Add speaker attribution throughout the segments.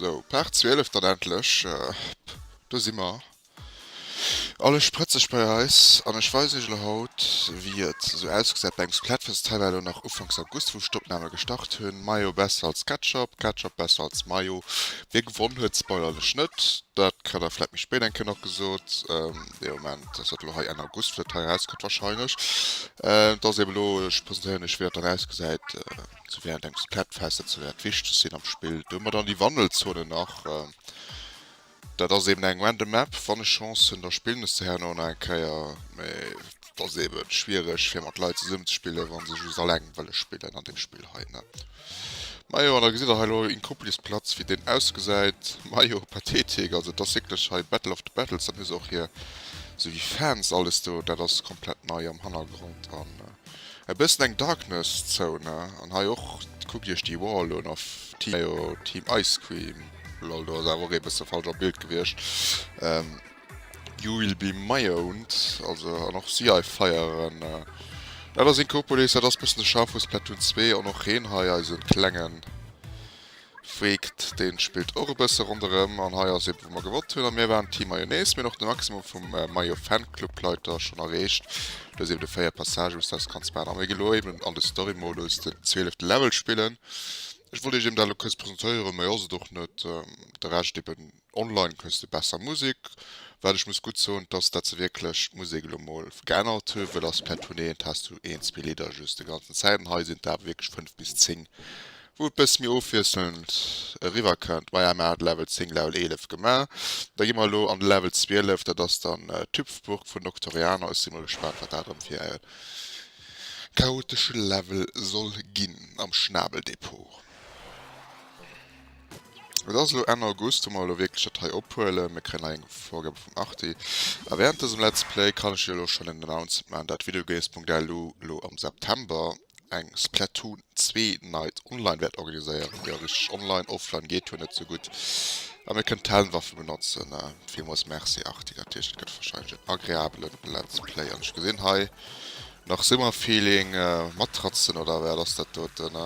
Speaker 1: So, Part 12 dann endlech. Do si mer. Alles sprëtzeg bei eis an ech weisen iech elo haut wéi et esou ausgesäit bei engem Splatfest. Hei war elo nach ufanks August wou ech d'Opname gestart hunn. Mayo besser als Ketchup, Ketchup besser als Mayo. Wee gewonn huet, spoilern ech net, dat kritt der vläit méi spéit eng Kéier nach gesot. dee Moment, dass dat elo hei Enn August fir d'Hai erauskënnt wahrscheinlech. Et ass eeben elo, ech presentéieren iech wéi dat dann ausgesäit, sou wéi andengs d'Plättfester ze wäert wichteg sinn am Spill. Do hu mer dann déi Wandelzone nach. Dat ass eeben eng random Map, wann ech Chance hunn, da spillen ech se herno nach eng Kéier, mee Et ass eben schwiereg fir mat Leit zesummen ze spillen wann se just alleng wëllen spillen an dem Spill hei ne. Majo an da gesitt der hei elo in Couplis Platz wéi deen ausgesäit. Majo Pathetik also et ass wierklech hei Battle of the Battles dann hu se och hier sou wéi Fans alles do dat ass komplett nei am Hannergrond an e bëssen eng Darkness Zone an hei och kuckt iech déi Wall un of Team Ice Cream. Lol do ass awer och ee bësse falsch am Bild gewiescht. You will be my owned, also an och si hei feieren. Dat ass Inkopolis, dat ass bëssen de Schaf vu Splatoon 2 an och heen hei eisen klengen Freekt deen spillt och e bësse ronderëm. An hei ass eben wou mer gewonnt hunn an mir waren Team Mayonnaise. Mir hunn och de Maximum vum Mayo Fan Club Leiter schonn erreecht. Do ass eben de 4 Passage us aus ganz Ban a mir gi lo eben an de Story Modus den 12 Level spillen. Ech wollt iech eben dat lo kuerz presentéieren, méi ass et och net, de Rescht eben. Online hues de besser Musek. Wat ech muss gutt soen dass dat se wierklech d'Musek elo mol geännert hu wëll ass per Tournéeent has du een zwee Lidder just de ganzen Zäiten hei sinn et awer wierklech 5 bis 10 wou et bësse méi ofwiesselnd eriwwer kënnt. Maja mir hate Level 10 Level 11 gemaach da gi mer elo an de Level 12 dat ass dann Tüpfburg vun Noctoriano ech si mol gespaant wat dat erëm fir e chaotesche Level soll ginn am Schnabeldepot. Et ass elo Enn August, wou mer elo wierklech dat hei ophuelen. Mir kréien hei eng Vorgabe vum Arti. A wärend dësem Let's Play kann ech jo elo schonn en Announcement maachen, dat Videogames.lu elo am September eng Splatoon 2 Night online wäert organiséieren. Jo, richteg, online, offline geet jo net esou gutt. A mir kënnen d'Helmwaffen benotzen. Villmools Merci Arti, dat heescht et gëtt warscheinlech en agreabele Let's Play. An ech gesinn hei nach Summerfeeling Matratzen, oder wat ass dat doten?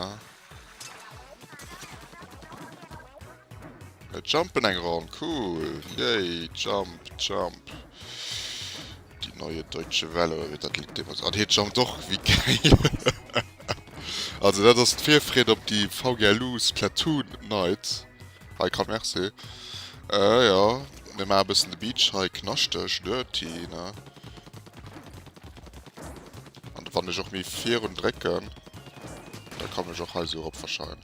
Speaker 1: Mir jumpen eng Ronn, cool! Yay! Jump, jump! Die neue deutsche Welle, oder wéi dat Lidd deemools. An hie jumpt och wéi gei. Also dat ass d'Virfreed op déi VGLU Splatoon Night. Hei kann Merci. Äh jo, mir maache bëssen de Beach hei knaschteg, dirty, ne? An wann ech och méi virun drécken. Da kann ech och hei so erop verschaien.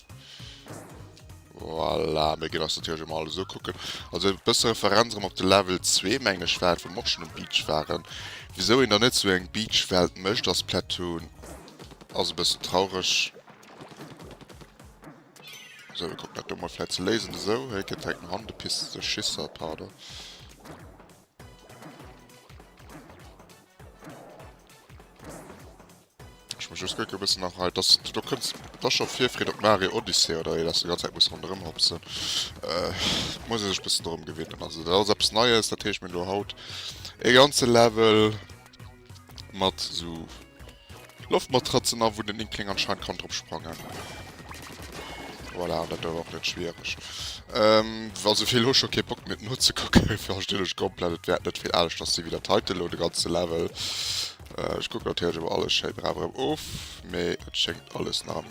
Speaker 1: Voilà, mir ginn ass natürlich mal alles ukucken. Also e bësse Referenz op de Level 2 meng ech war, wou mer och schon um Beach waren. Wisou een da net sou eng Beach-Welt mécht a Splatoon ass e bësse traureg. So, mir kucken dat do mol vläit ze léisen. Esou, hei kënnt direkt no hannen de Pisteschisser, pardon. Ech muss just kucken e bëssen nach hei, dass du do kënns. Et ass scho Virfreed op Mario Odyssey oder ee, dass du ganz Zäit muss ronderëm hopsen. Et muss ee sech e bëssen dorëm gewinnen. Also dat ass eppes Neies, dat heescht mir hunn elo haut ee ganze Level mat esou Loftmatratzen a wou den Inkling anscheinend kann drop sprangen. Voilà, an dat ass och net schwiereg. Also fir elo scho kee Bock méi et nozekucken, verstinn ech komplett. Et wäert net vill aneschters sinn wéi der Title elo, de ganze Level. Ech kucken natierlech ëmmer alles schéi brav erëm of, mee et schéngt alles nach am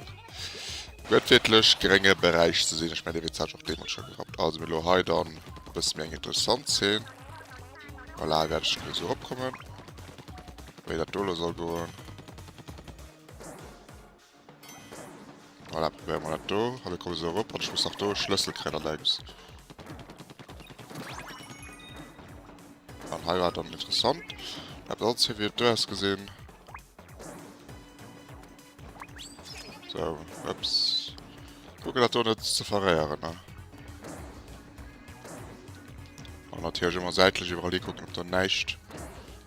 Speaker 1: gëttwiertlech grénge Beräich ze sinn. Ech mengen, dee Witz hat ech och deemools scho gerappt. Also, mir hunn elo hei dann e bësse méi eng interessant Zeen. Voilà, wäert ech elo sou eropkommen, wéi dat do elo soll goen. Voilà, probéiere mer dat do. Hallo, ech komme esou erop an ech muss nach do e Schlëssel kréien an der Ems. An hei war et dann interessant. Eppes alles hei, wéi et do ausgesinn. So, ups. Kucken, dat do net ze verréieren, ne? An natierlech ëmmer säitlech iwwerall hikucken, ob do näischt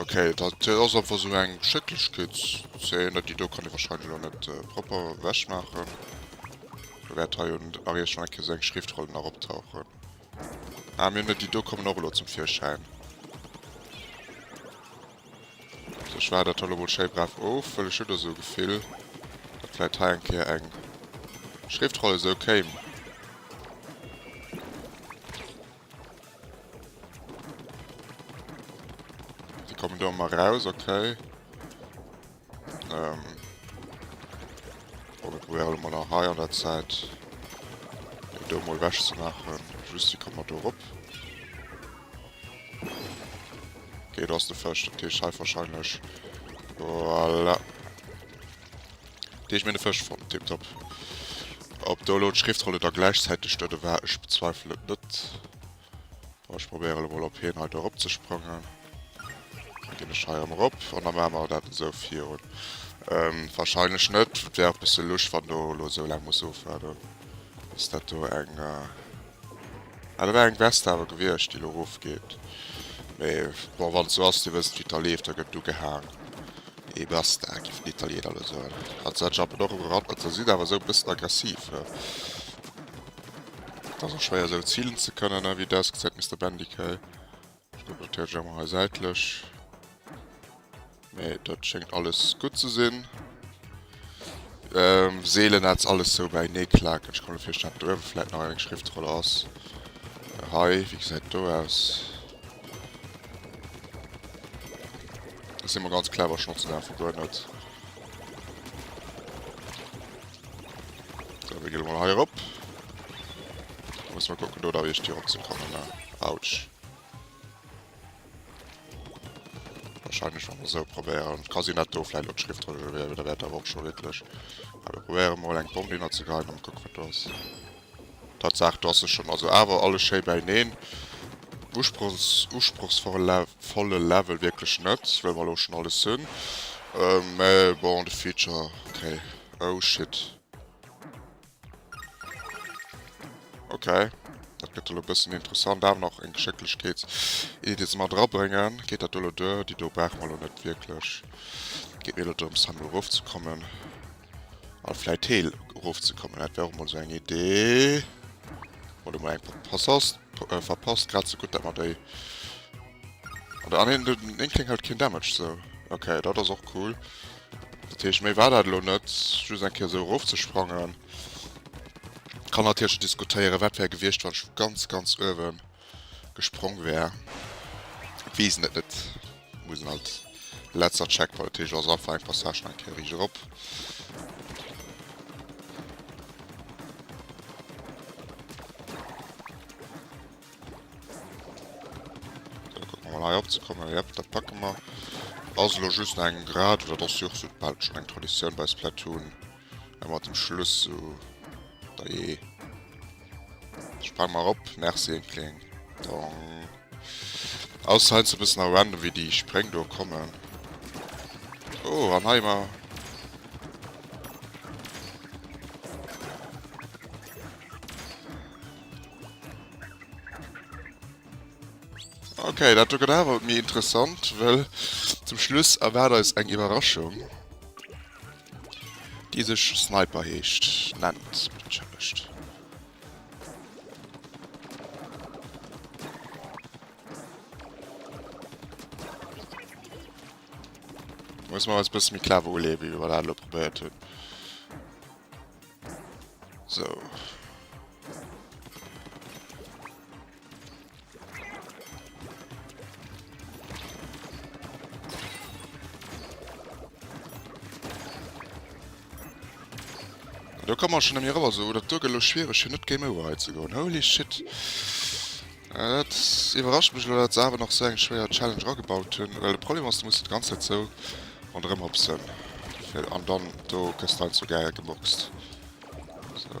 Speaker 1: Ok, dat ass einfach sou eng Schëcklechkeetszeen, déi do kann ee wahrscheinlech elo net propper ewechmaachen. Lo wäert hei un de Barrière schonn eng Kéier sou eng Schriftroll nach optauchen. Ah, mir hunn déi do kommen och elo zum Virschäin. Sou, ech waarden dat hei elo mol schéi brav of, well ech hunn do sou e Gefill, datt vläicht hei eng Kéier eng Schriftroll esou kéim. Die kommen da mal raus, okay. Ähm. Oh, wir probieren mal nach high an der Zeit. Die da mal weg zu machen. Just die kommen da rup. Okay, da ist der Fisch. Der Tisch halt wahrscheinlich. Voilà. Deeg mine Fësch fonnt, tiptop. Ob do elo d'Schriftrolle da gläichzäiteg dote war, ech bezweifel et net. Bon, ech probéiere elo mol op hien hei do eropzesprangen. Da ginn ech hei erëm erop an da maache mer dat esou virun. Warscheinlech net. Et wär och e bësse lusch, wann do elo esou laang muss ofwaarden, bis dat do eng. Ah dat war eng Veste awer gewiescht déi lo erof geet, mee bon wann et sou ass dir wësst wéi et da leeft da gëtt do gehaang et basta giffen d'Italieener elo soen. Hat se anscheinend och ugerannt, mat se sinn awer esou e bëssen aggressiv ne, et ass och schwéier esou zilen ze kënnen ne, wéi desk, seit Mister Bendy kei. Ech deportéiere Jemma hei säitlech. Nee, dat schéngt alles gutt ze sinn. Ähm, seelen ass alles so bäinee klaken. Ech kann mir virstellen, datt uewe vläit nach eng Schriftroll ass. Äh, hei, wéi gesäit do aus? Dat si mer ganz clever, schonn ze daache guer net. So, wir gehen mal hier op. Muss mal gucken, do da wie ich die opzukommen. Ne? Autsch. Wahrscheinlich schon so probieren. Kann sie nicht do vielleicht und Schrift drüber werden, da wird aber auch schon wirklich. Aber probieren mal einen Bomben zu gehen und gucken, was da ist. Tatsaach, do ass se schonn. Also awer alles schéi bäineen. Usprochsvolle Level wierklech net, wëll mer elo schonn alles hunn. Mä bon, de Feature, okay. Oh shit. Okay, dat gëtt elo e bëssen interessant. Awer nach eng Geschécklechkeetsiddi, déi se mat erabréngen. Geet dat do elo duer? Déi do brauche mer elo net wierklech. Et geet mir elo drëms, hei mol erofzekommen. An vläit héi erofzekommen, dat wär och mol esou eng Idee. Oder mol eng verpasst, äh, verpasst, grad esou gutt dat mer déi... Oder an den, den Inkling hält keen Damage zou. Okay, dat ass och cool. Dat heescht, méi war dat elo net, just eng Kéier esou erofzesprangen. Kann natierlech diskutéieren, wat wär gewiescht, wann ech vu ganz, ganz uewen... gesprong wär weesen et net musen alt letzer check bei Tech ass einfach eng Passage nach eng Kéier riicht erop. opzekommen ja, dat packe mer also just eng grad oder dass jo so bald schon eng Tradition bei Splatoon An mat dem Schluss so. Da je. Sprang mal op, Merci en Kling. Dong. Aus hein ze bis nach random wie die Spréng do kommen. Oh an heimer. Okay, dat du gedawer mir interessant, well zum Schluss erwaart eis eng Iwwerraschung. Déi sech Sniper heescht, nennt d'Mënschen mech. Muss man als bësse méi clever uleeën, wéi mer dat lo probéiert hunn. So. Da kann man schon mir rüber so oder du gelo schwierig hier net game over zu go holy shit äh, das überrascht mich oder das aber noch so eng schwerer challenge gebaut hun weil de problem was du musst ganz so an drin op sind an dann du christ zu geil geboxt so.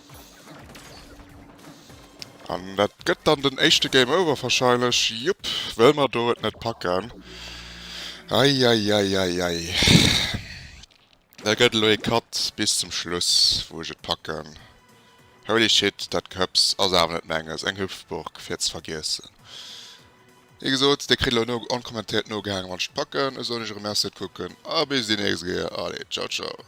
Speaker 1: An dat gëtt dann den éischte Game Over wahrscheinlech, jup, well mer do et net packen. Eieieiei. Da gëtt elo ee Cut bis zum Schluss, wou ech et packen. Holy shit, dat Gehëps ass awer net menges, eng Hüpfburg fir ze vergiessen. Wéi gesot, Dir kritt elo onkommentiert nogehaangen, wann ech et packen. Esou, ech erëm merci fir d'Kucken a bis déi nächst Kéier. Allez, ciao ciao.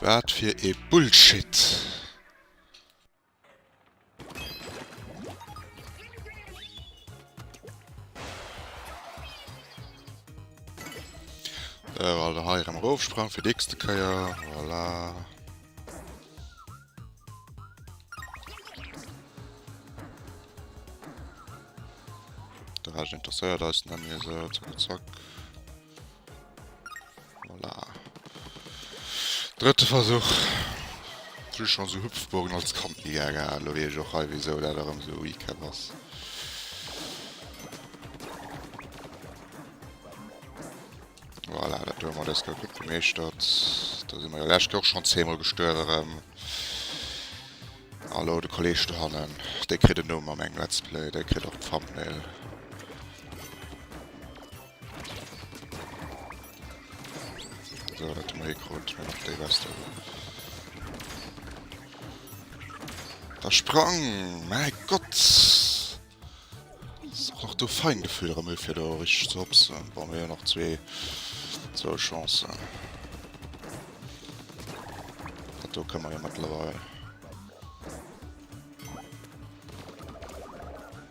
Speaker 1: Waat fir ee Bullshit! Sou, also hei erem erofsprang fir déchste Keier, voilà. De Recht interesseiert eis nemmi esou, zack zack. Voilà. Drëtte Versuch. Ech hu schonn esou Hüpfburgen als Kand ni gär gehalen. Elo weess ech och hei wisou dat erëm esou Recap ass. Voilà, dat do hu mer dës Gau gutt gemeeschtert. Do si mer jo lescht Gau och schonn zeemol gestuerwen erëm. A lo de Kolleg dohannen. Dee kritt en Numm a mengem Let's Play. Dee kritt och d'Thumbnail. So, wat hun mer hei krut? Mir hun déi Weste do. Da sprang! Mäi Gott! Ass och nach do fein Gefühl erëm e fir do richteg ze hopsen. Bon, mir hun nach zwee zwou Chancen. Dat do kënne mer jo mëttlerweil.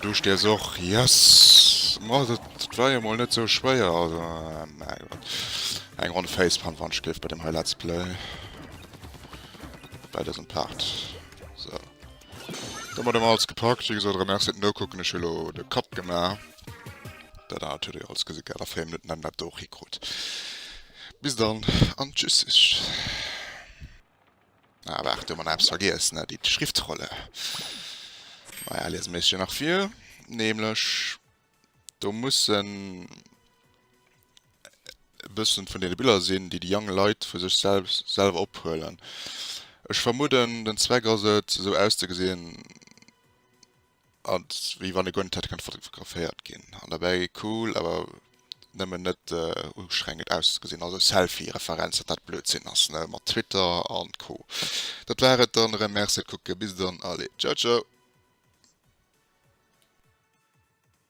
Speaker 1: Du stiers och. Yes! Ma dat war jo mol net sou schwéier. Also, mäi Gott. Eng Ronn Facepalm, wann ech géif bei dem hei Let's Play. Bei dësem Part. So. Domat hu mer alles gepackt. Wéi gesot, remercie fir d'Nokucken. Ech hu lo de Kapp gemaach. Dat anert huet der jo alles gesi gehat. A 4 Minutten hätt een dat do och hikrut. Bis dann an Tschüssisch. Ah, waart, do hu mer nach eppes vergiess, ne? Déi Schriftrolle. Naja, liesen mir eis jo nach vir. Nämlech, do mussen e bëssen vun deene Biller sinn, déi déi jonk Leit vu sech selbst, selwer ophuelen. Ech vermudden, den Zweck ass et, esou auszegesinn. Ass wéi wann e guer net hätt kënne fotograféiert ginn an derbäi cool awer nëmmen net ustrengend auszegesinn. Also Selfie Referenz datt dat Blödsinn ass ne mat Twitter an Co. Dat war et dann erëm merci kucke bis dann allez ciao ciao.